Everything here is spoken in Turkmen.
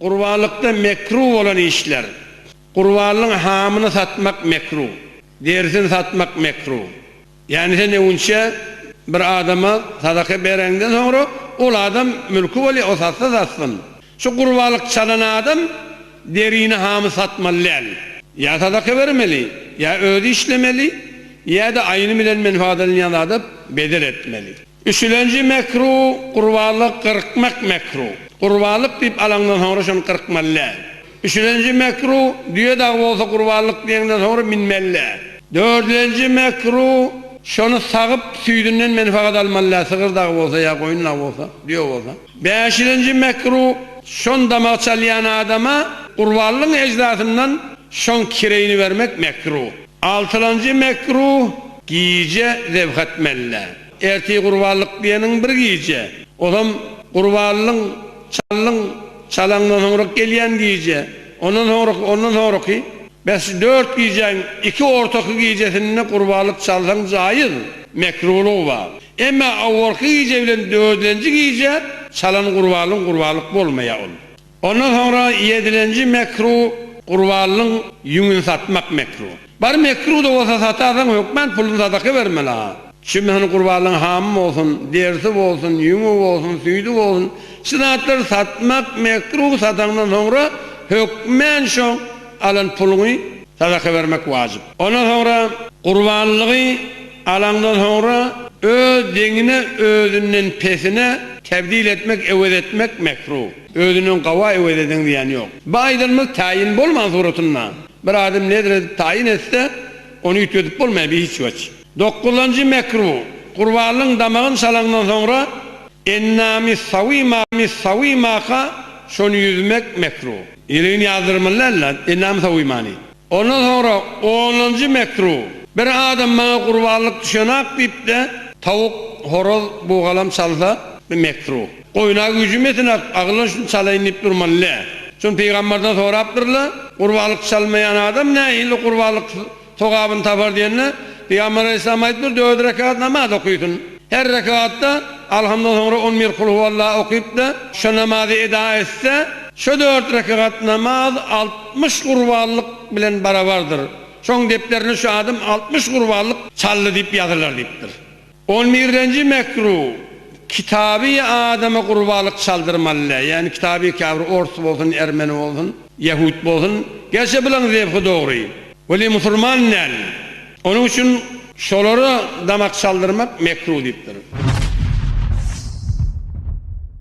Gurbanlykda mekruh bolan işler, Gurbanlygyň hamyny satmak mekruh, derisini satmak mekruh. Ýagny sen öňinçä bir adama sadaka bereňden soňra ol adam mülki bolýar, o satsa satsyn. Şu gurbanlyk çalan adam derini hamy satmaly däl. Ýa sadaka bermeli, ýa özi işlemeli, ýa-da aýny bilen menfaatlanýan zada bedel etmeli. Üçülenji mekru, Gurbanlyk gyrkmak mekru. Gurbanlyk diýip alaňdan soňra şony gyrkmaly däl. Üçülenji mekru, Düýe dagy bolsa gurbanlyk diýeňden soňra minmeli däl. Dördülenji mekru, Şony sagyp, süýdünden menfagat almaly däl, sygyr dagy bolsa ýa goýun dagy bolsa, düýe bolsa. Bäşilenji mekru, Şon damak çalýan adama gurbanlygyň ejdasyndan şoň kireýini bermek mekru. Altylanjy mekruh, Gije zebh etmeli. Ertir gurbanlyk diýeniň bir gije. Olam gurbanlygyň, çallyň, çalaňdan soňrak gelýän gije. Ondan soňraky, ondan soňraky. Bes şu dört gijäň iki ortaky gijesinde gurbanlyk çalsaň jaýyz, mekruhlygy bar. Emma awwalky gije bilen dördünji gije çalan gurbanlygyň gurbanlyk bolmaýar ol. Ondan soňra ýedilenji mekru gurbanlyň ýüňüni satmak mekru. Bar mekru-da bolsa satarsaň hökman puluny sadaka bermeli ha. Çünki sen gurbanlyň hamy bolsun, derisi bolsun, ýüňi bolsun, süýdi bolsun şu zatlary satmak mekru sataňdan soňra hökman şo alan puluňy sadaka bermek wajyp. Ondan soňra gurbanlygy. Alandan soňra öz deňine özünden pesine tebdil etmek, ewez etmek, mekruh. Özünden gawa ewez edeň diýen ýok. Bu aýdylmaz taýyn bolman suratynda. Bir adam nezr edip taýyn etse, ony üýtgedip bolmaýar bi hiç weç. Dokuzynjy mekruh, gurbanlygyň damagyny çalaňdan soňra ennami sawimaka şony ýüzmek, mekruh. Ýiligini ýazdyrmaly däldir, ennami sawimany. Ondan soňra onunjy mekru, Bir adam maňa gurbanlyk düşenak diýip-de, tawuk, horaz, bugalam çalsa, bu mekru. Goýuna güýjüm ýetenak, agylyň şuny çalaýyn diýip durman, lä. Şuny pygamberden sorapdyrlar, Gurbanlyk çalmaýan adam nähili gurbanlyk sogabyny tapar diýende, pygamber aleýhissalam aýdypdyr, dört rekat namaz okaýsyn. Her rekatda Alhamdan soňra on bir Kulhuwalla okyp-da, şu namazy eda etse, şu dört rekat namaz altmyş gurbanlyk bilen barabardyr. Şoň depderine şu adam altmyş gurbanlyk çaldy diýip ýazylar diýipdir. On birinji mekruh, Kitaby adama gurbanlyk çaldyrmaly, ýagny kitaby käbir ors bolsun, ermeni bolsun, ýahut bolsun, gerçi bularyň zebhy dogry. Weli musulman däl. Onuň üçin şolara damak çaldyrmak mekruh diýipdir.